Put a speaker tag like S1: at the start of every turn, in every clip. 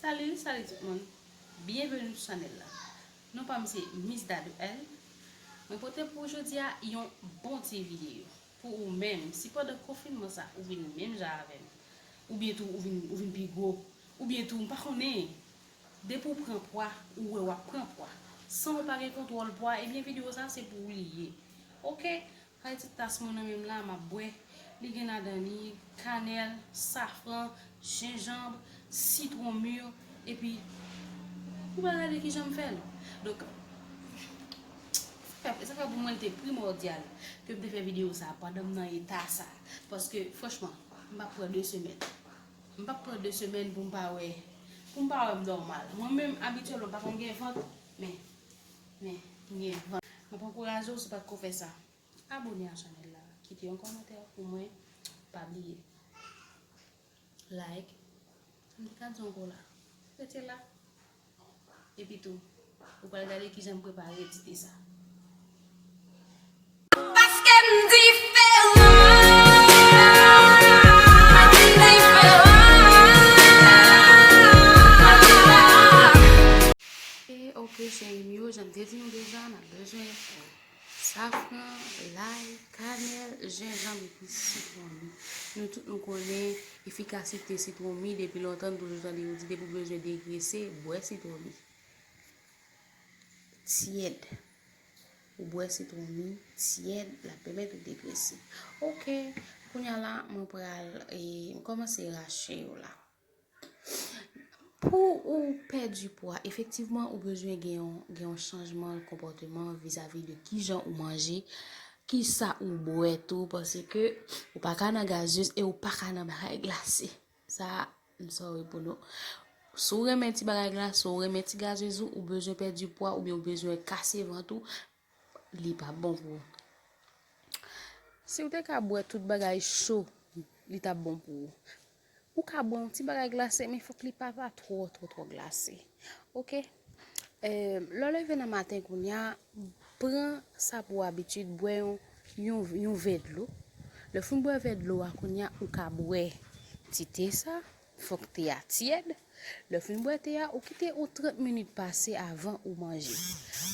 S1: Salut salut tout moun Bienvenue sou chanel la Non pam se Miss Dadou L Mwen pote pou ou jodia yon bon ti video Pou ou menm si pandan konfinman sa ou vin menm jan avèm Oubyen tou ou vin ou vin pi gwo Oubyen tou m pa konnen Depi ou pran pwa ou wè wap pran pwa San ou pa gen kontwòl pwa ebyen video sa se pou ou li ye Ok Kay ti tas mwen nan menm la map bwè, li gen ladan li, kanèl, safran, jenjanb, sitwon mur epi ou pa gade kijan m fèl. Donk sa fè pou mwen li te primordial ke m te fè video sa pandan m nan eta sa paske franchman m pap pran 2 semèn m pap pran 2 semèn pou m pa wè pou m pa wè m nòmal. Mwen menm abityèlman m pa konn gen vant men Men, ou gen van. M ap ankouraje w si w pa t ko fè sa. Abone a chanèl la. Kite yon kòmantè pou mwen. Pa bliye. Like. M te ka di w ankò la. Rete la. Epitou, ou pral gade kijan m prepare ti te sa. Paske m diferan. Ok cheri m yo, jan m te di nou deja n ap bezwen safran, lay, kanèl, jenjanm epi sitwon mi. Nou tout nou konnen efikasite sitwon mi depi lontan, nou toujou tande yo di depi w bezwen degrese, bwè sitwon mi. Tyèd. Ou bwè sitwon li tyèd lap pèmèt ou degrese ok kounya la mwen pral m kòmanse rache yo la pou ou pèdi pwa efektivman ou bezwen gen yon gen yon chanjman konpòteman vizavi de kijan ou manje kisa ou bwè tou paske ou paka nan gazeuz e ou paka nan bagay glase. Sa a, m sorry pou nou. Si w renmen ti bagay glas, si w renmen ti gazezou, ou bezwen pèdi pwa oubyen ou bezwen kase vant ou, li pa bon pou ou. Si w te ka bwè tout bagay cho, li ta bon pou ou. Ou ka bwè yon ti bagay glase men fòk li pa ta twò twò twò glase. Ok? Lè w leve nan maten kounya, Pran sa pou abitid, bwè yon yon vè dlo. Lè w fin bwè vè dlo a kounye a ou ka bwè ti te sa, fòk te a tyèd. Lè w fin bwè te a, ou kite yon 30 minit pase avan ou manje.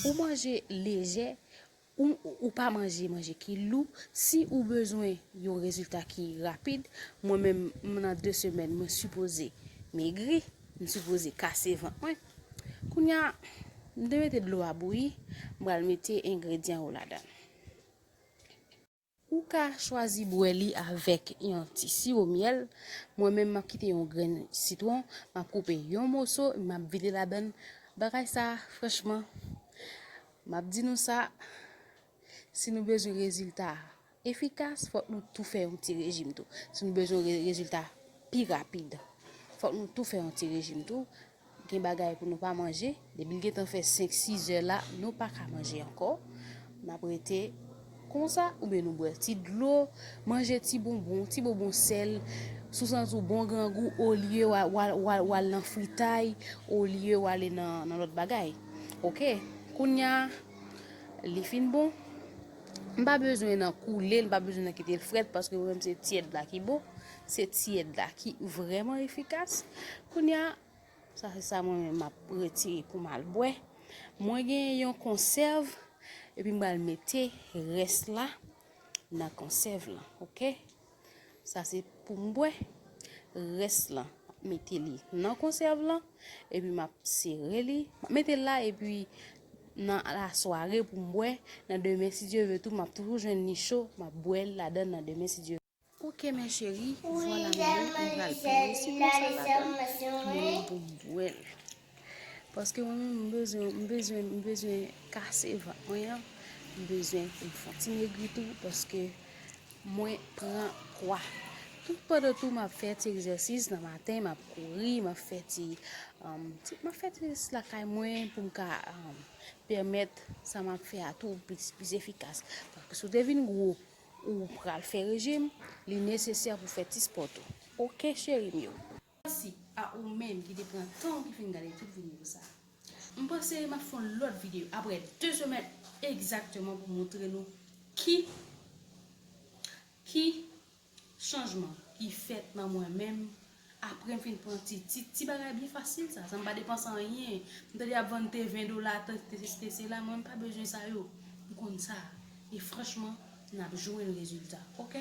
S1: Ou manje lejè, ou ou pa manje manje ki lou. Si ou bezwen yon rezilta ki rapid, mwen menm nan 2 semèn mwen sipoze megri, m sipoze kase vant mwen. Kounya m te mete dlo a bouyi, m pral mete engredyan yo ladan. Ou ka chwazi bwè li avèk yon ti siwo myèl, mwen menm map kite yon grenn sitwon, map koupe yon moso e map vide ladan. Bagay sa franchman, map di nou sa, si nou bezwen rezilta. efikas fòk nou tou fè yon ti rejim tou si nou bezwen rezilta pi rapid fòk nou tou fè yon ti rejim tou gen bagay pou nou pa manje depi l gentan fè 5 6 zè la nou pa ka manje ankò n ap rete konsa oubyen nou bwè ti dlo manje ti bonbon ti bonbon sèl sou santi w bon grangou olye w al nan fritay olye w ale nan lòt bagay ok kounya li fin bon. M pa bezwen nan koule l, m pa bezwen nan kite l frèt paske mwen menm se tyèd la ki bon, se tyèd la ki vrèman efikas. Kounye a, sa se sa mwen menm map retire pou m al bwè. Mwen gen yon konsèv epi m pral mete rès la nan konsèv lan, ok. Sa se pou m bwè. Rès lan, m mete li nan konsèv lan. Epi m ap sere li. M ap mete l la epi nan lasware pou m bwè. Nan demen si Dye ve tou m ap toujou jwenn li cho. M ap bwè l ladan nan demen si Dye ve. Ok mè cheri, vwala m gen, m pral plen yon sitwon sa ladan pou m bwè l. Paske mwen menm m bezwen, m bezwen, m bezwen kase vant mwen an, m bezwen pou m fè yon ti megri tou paske mwen pran pwa. Tout pandan tou m ap fè ti egzèsis nan maten, m ap kouri, m ap fè ti, m ap fè ti egzèsis lakay mwen pou m ka pèmèt sa m ap fè a tou plis plis efikas. Paske si w te vin gwo ou pral fè rejim, li nesesè pou fè ti spò tou. Ok cheri m yo. Mèsi a ou menm ki te pran tan ou ki fin gade tout videyo sa. M panse map fon lòt videyo aprè 2 semèn egzakteman pou montre nou ki ki chanjman ki fèt nan mwen menm aprè m fin pran ti ti ti bagay byen fasil sa san m pa depanse anyen. M tande yap vann te 20 dola te te sesi te sela mwen m pa bezwen sa yo. M konn sa e franchman nap jwenn rezilta ok.